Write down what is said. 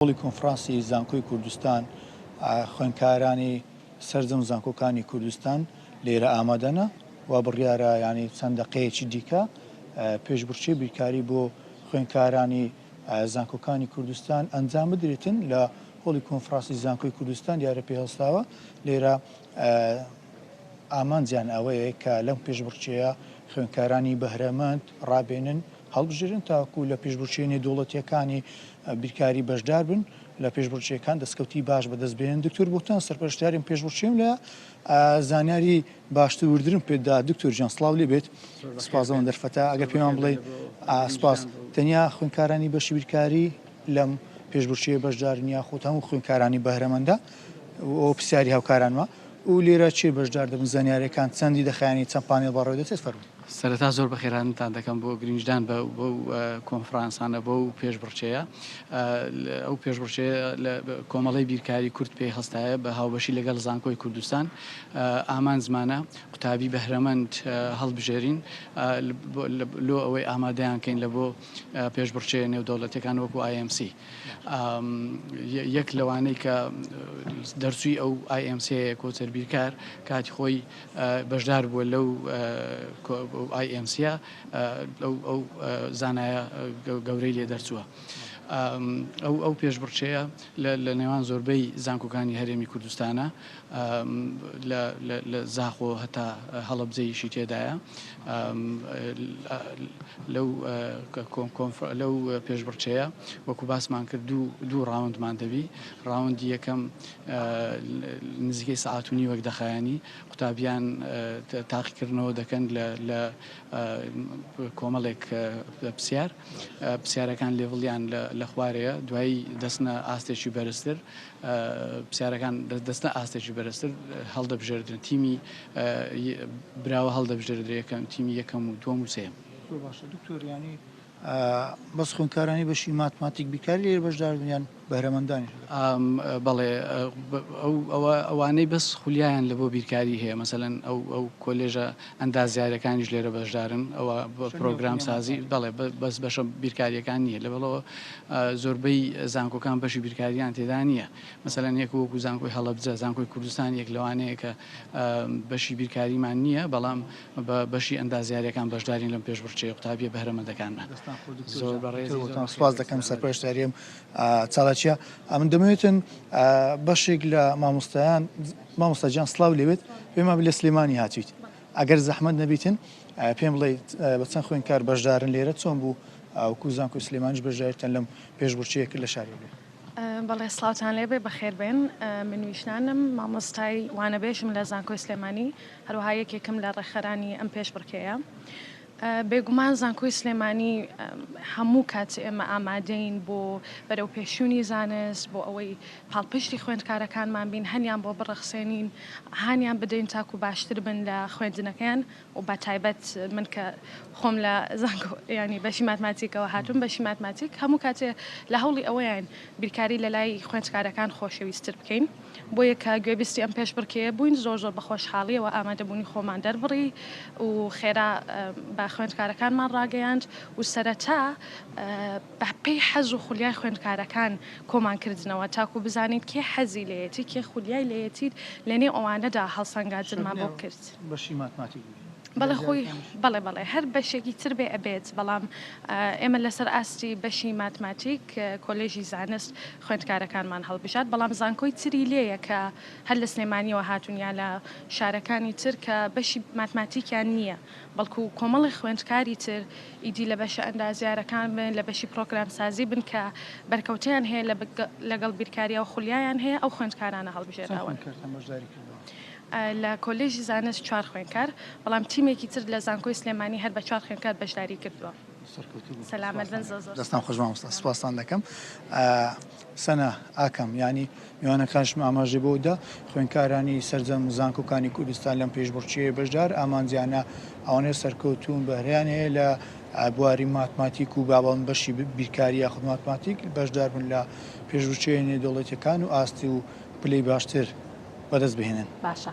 هۆڵی کۆنفرانسی زانکۆی کوردستان خوێندکارانی سەرجەم زانکۆکانی کوردستان لێرە ئامادەنە و بڕیارە یانی چەند دەقەیەکی دیکە پێشبڕکێ بیرکاری بۆ خوێندکارانی زانکۆکانی کوردستان ئەنجام بدرێتن لە هۆڵی کۆنفرانسی زانکۆی کوردستان دیارە پێ هەڵساوە لێرە ئامانجیان ئەوەیە کە لەم پێشبڕچەیە خوێندکارانی بەهرەمەند ڕابێنن هەڵبژێرن تاکو لە پێشبچێنی دەوڵەتیەکانی بیرکاری بەشدار بن لە پێشبڕکێکان دەستکەوتی باش بەدەست بێن دکتۆر بۆتان سەرپەرشتیارم پێشبڕکێم لە زانیاری باشتر وردرم پێدا دکتۆر جان سلااو لێ بێت سپازەوەن دەرفەتە ئەگەر پێمان بڵێ ئاسپاس تەنیا خوێنکارانی بەشی بیرکاری لەم پێشبڕکێ بەشدارنیا خۆت هەموو خوێنکارانی بەهرەمەندە و پرسیاری هاوکارانوە و لێرە کێ بەشدار دەبن؟ زانیاریەکان چەندی دەخایەنی؟ چەند پانێڵ بەڕێوەدەچێت؟ فەرموو. سەرەتا زۆر بەخێرهاتنتان دەکەم بۆ گرینگدان بەو کۆنفرانسانە بەو پێشبڕکێیە ئەو پێشبڕکێیە لە کۆمەڵی بیرکاری کورد پێی هەستایە بە هاوبەشی لەگەڵ زانکۆی کوردستان ئامانجمانە قوتابی بەهرەمەند هەڵبژێرین لۆ ئەوەی ئامادەیان کەین لە بۆ پێشبڕکێ نێودەوڵەتیەکان وەکو IMC. یەک لەوانەی کە دەرچووی ئەو IMC کۆچەر بیرکار کاتی خۆی بەشدار بووە لەو IMC ئەو زانایە گەورەی لێ دەرچووە. ئەو ئەو پێشبڕچەیە لە نێوان زۆربەی زانکۆکانی هەرێمی کوردستانە لە زاخۆ هەتا هەڵەبجەیشی تێدایە لەو پێشبڕکێیە وەکو باسمان کرد دوو ڕاوندمان دەبی ڕاوندی یەکەم نزیکەی سعات و نیوەک دەخایانی قوتابیان تاقیکردنەوە دەکەن لە کۆمەڵێک پرسیار پرسیارەکان لێڤڵیان لە خوارەیە دوایی دەستنە ئاستێکی بەرزتر پرسیارەکان دەستە ئاستێکی بەرزتر هەڵدەبژێردرێن تیمی براوە هەڵدەبژێردرێ یەکەم تیمی یەکەم و دووەم و سێم زۆر باشە دکتۆر یانی بەس خوێندکارانی بەشی ماتماتیک بیکاری لێ بەشدار بنیان بەرەمەندانی بەڵێ ئەوانەی بەس خولیایان لە بۆ بیرکاری هەیە مەسەن ئەو ئەو کۆلێژە ئەندازیارەکانیش لێرە بەشدارن ئەوە پرۆگرام سازی بەڵێ بەس بەشە بیرکاریەکان نییە لە بەڵەوە زۆربەی زانکۆکان بەشی بیرکاریان تێدا نییە مەسەلا یەک وەکو زانکۆی هەڵبجە زانکۆی کوردستان یەک لەوانەیە کە بەشی بیرکاریمان نییە بەڵام بە بەشی ئەندازیارەکان بەشدارین لەم پێشبڕچەیە قوتابیە بەهرەمەندەکانمان زۆر بەڕێزتان سپاس دەکەم سەرپەرشتاریم چالاکیە ئەمن دەمێتن بەشێک لە مامۆستایان مامۆستا گیان سڵاو لێبێت پێمان بلێ سلێمانی هاتویت ئەگەر زەحمەت نەبیتن پێم بڵێیت بە چەند خوێنکار بەشدارن لێرە چۆن بوو ئاوکو زانکۆی سلێمانیش بەشدارتن لەم پێشبڕکێیە کرد لە شاری لێ بەڵێ سڵاوتان لێبێ بەخێربێن من ویشنانم مامۆستای وانەبێژم لە زانکۆی سلێمانی هەروەها یەکێکم لە ڕێکخەرانی ئەم پێشبڕکێیە بێگومان زانکۆی سلێمانی هەموو کات ئێمە ئامادەین بۆ بەرەوپێشچوونی زانست، بۆ ئەوەی پاڵپشتی خوێندکارەکانمان بین، هەنیان بۆ بڕەخسێنین، هانیان بدەین تاکو باشتر بن لە خوێندنەکەیان و بە تایبەت من کە خۆم لە زانکۆ یانی بەشی ماتماتیکەوە هاتووم، بەشی ماتماتیک هەموو کاتێ لە هەوڵی ئەوەین بیرکاری لە لای خوێندکارەکان خۆشەویستتر بکەین، بۆیە کە گوێبیستی ئەم پێشبڕکێیە بووین زۆر زۆر بە خۆشحاڵییەوە ئامادەبوونی خۆمان دەربڕی و خێرا بە خوێندکارەکانمان ڕاگەیاند و سەرەتا بە پێی حەز و خولیای خوێندکارەکان کۆمان کردنەوە تاکوو بزانین کێ حەزی لێیەتی کێ خولیای لێیەتی لە نێو ئەوانەدا هەڵسەنگاندنمان بۆ کرد. بەڵێ خۆی بەڵێ بەڵێ هەر بەشێکی تر بێ ئەبێت بەڵام ئێمە لەسەر ئاستی بەشی ماتماتیک کۆلێژی زانست خوێندکارەکانمان هەڵبژات بەڵام زانکۆی تری لێیە کە هەر لە سلێمانیەوە هاتون یا لە شارەکانی تر کە بەشی ماتماتیکیان نییە بەڵکو کۆمەڵی خوێندکاری تر ئیدی لە بەشە ئەندازیارەکان بن لە بەشی پرۆگرام سازی بن کە بەرکەوتیان هەیە لەگەڵ بیرکاریەوە خولیایان هەیە ئەو خوێندکارانە هەڵبژێراون. لە کۆلێژی زانست چوار خوێندکار، بەڵام تیمێکی تر لە زانکۆی سلێمانی هەر بە چوار خوێندکار بەشداری کردووە. سەرکەوتوو بن. سەلامەت بن زۆر زۆر. دەستان خۆش مامۆستا سوپاستان دەکەم. سەنا ئاکام یانی میوانەکانشم ئاماژەی بۆ دا خوێندکارانی سەرجەم زانکۆکانی کوردستان لەم پێشبڕکێیە بەشدار ئامانجیانە ئەوانەیە سەرکەوتوون بەهرەیان هەیە لە بواری ماتماتیک و بابان بەشی بیرکاری یاخود ماتماتیک بەشدار بن لە پێشبچوویە نێودەوڵەتییەکان و ئاستی و پلەی باشتر بەدەست بهێنن. باشە